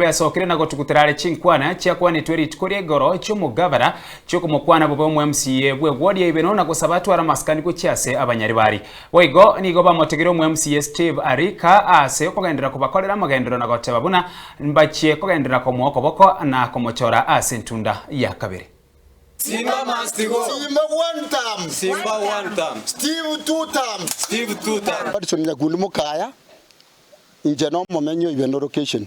Besokire na gotugutera are chinkwana chiakwanetwe rituko ria igoro chi'omogabera chi'okomokwana bobe omwemusiye bw'eguoria ibero na gosaba atware amasikani gochia ase abanyaribari. Boigo nigo bamotegire omwemusiye Steve Arika ase okogenderera kobakorera amagenderero na goteba buna mbachie kogenderera komoa okoboko na komochora ase entunda ya kabere. Simba must go. Simba one term. Simba one term. Steve two term. Steve two term. Patson Nyakundi Mukaya inche nomomenyi oibe no location.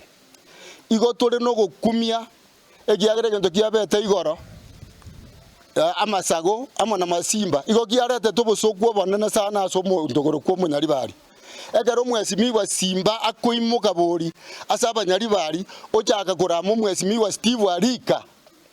Igo tore nogokumia ekiagera egento kiabete igoro eh, amasago amo na masimba igo giaretete obosooku obonene sana ase omonto okorokwa omonyaribari. Ekero omwesimigwa Simba akoimoka bori ase abanyaribari ochaka korama omwesimigwa Steve Arika,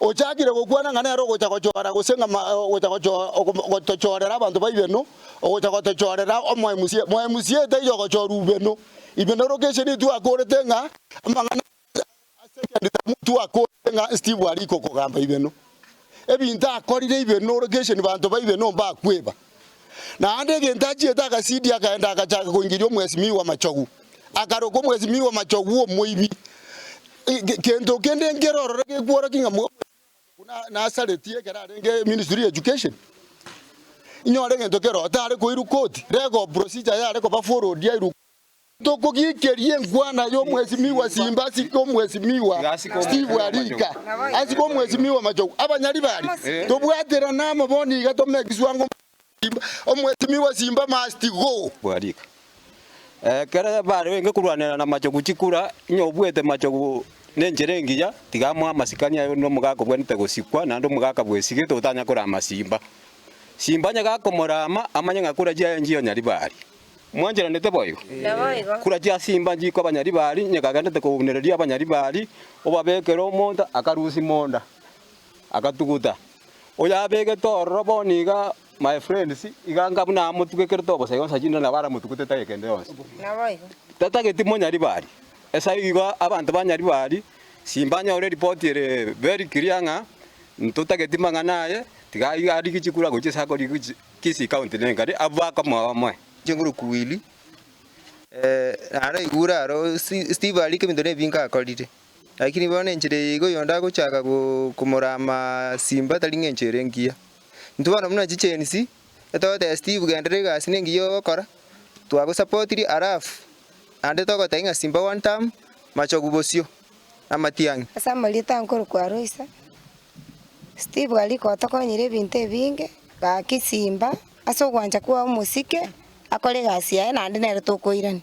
Ochakire gokwana ng'a nere ogocha gochora gose ng'a ogocha gotochorera abanto ba Ibeno, ogocha gotochorera omoemusie. Moemusie taiyo ogochora Ibeno. Ibeno location nigo twakorete ng'a amang'ana a second term twakorete ng'a Steve arikokogamba Ibeno. Ebinto akorire Ibeno location banto ba Ibeno mbakweba. Naende egento achiete agasidia akaenda agachaaka koingeria omwesimiu bw'amachogu, akaroka omwesimiu bw'amachogu bw'omoibi. Gento kende nkere ororo gekworokia ng'a omwesimiu bw'amachogu nasareti ekero arenge ministry ya education, inyore egento kere otare koirwa koti, regob procedure yare koba followed yairwa koti. Tokogiikeria enkwana y'omwesimigwa simba ase omwesimigwa Steve Arika ase omwesimigwa Machogu. Abanyari baria tobwaterane amo bono iga tome egeswango omwesimigwa simba must go. Arika. Ekero bare enge korwanera na Machogu chikura, inye obuete Machogu nenchera engiya, tiga amo amasikani aye onde omogaka obwenerete gosikwa naende omogaka bw'esige totanya korama simba. Simba onye gakomorama amanye ng'a kura chiaye nchionyari baria. Mwancheranete boigo? Kurachia ase imba nchiko abanyaribari, nyeka agendete kounereria abanyaribari, obabekere omonto akarusia monda, agatuguta. Oyabegete ororo bono iga, my friends, iga nga buna amotugekerete obosa yonsi achinde nabo aramotugutete age kende yonsi. Tatageti monyaribari. Esaa igo abanto ba nyaribari, simbanyore ripoti ere very clear ng'a ntotageti mang'ana aye, tiga iga arigichikuru agochia ase akorigia Kisii County nenkari abwo aka omoyo omoe. Chinguru kuwili eh naro igure aro Steve arie kebinto ne binge akorire lakini bono enchera eye igo yonde agochaka komorama Simba tari ng'encho ere engiya intwe bono buna chigensi togoteba Steve genderera egasi nengiya ogokora twagosapotiri alafu naende togotebia ng'a Simba one term machogu bosio. amatiang'i. Ase amarieta aa nkorokwa Aloysa, Steve aria gotokonyire ebinto ebinge. Gaki simba ase ogwancha kwao omosike akore egasi yaye naende nere tokoirania.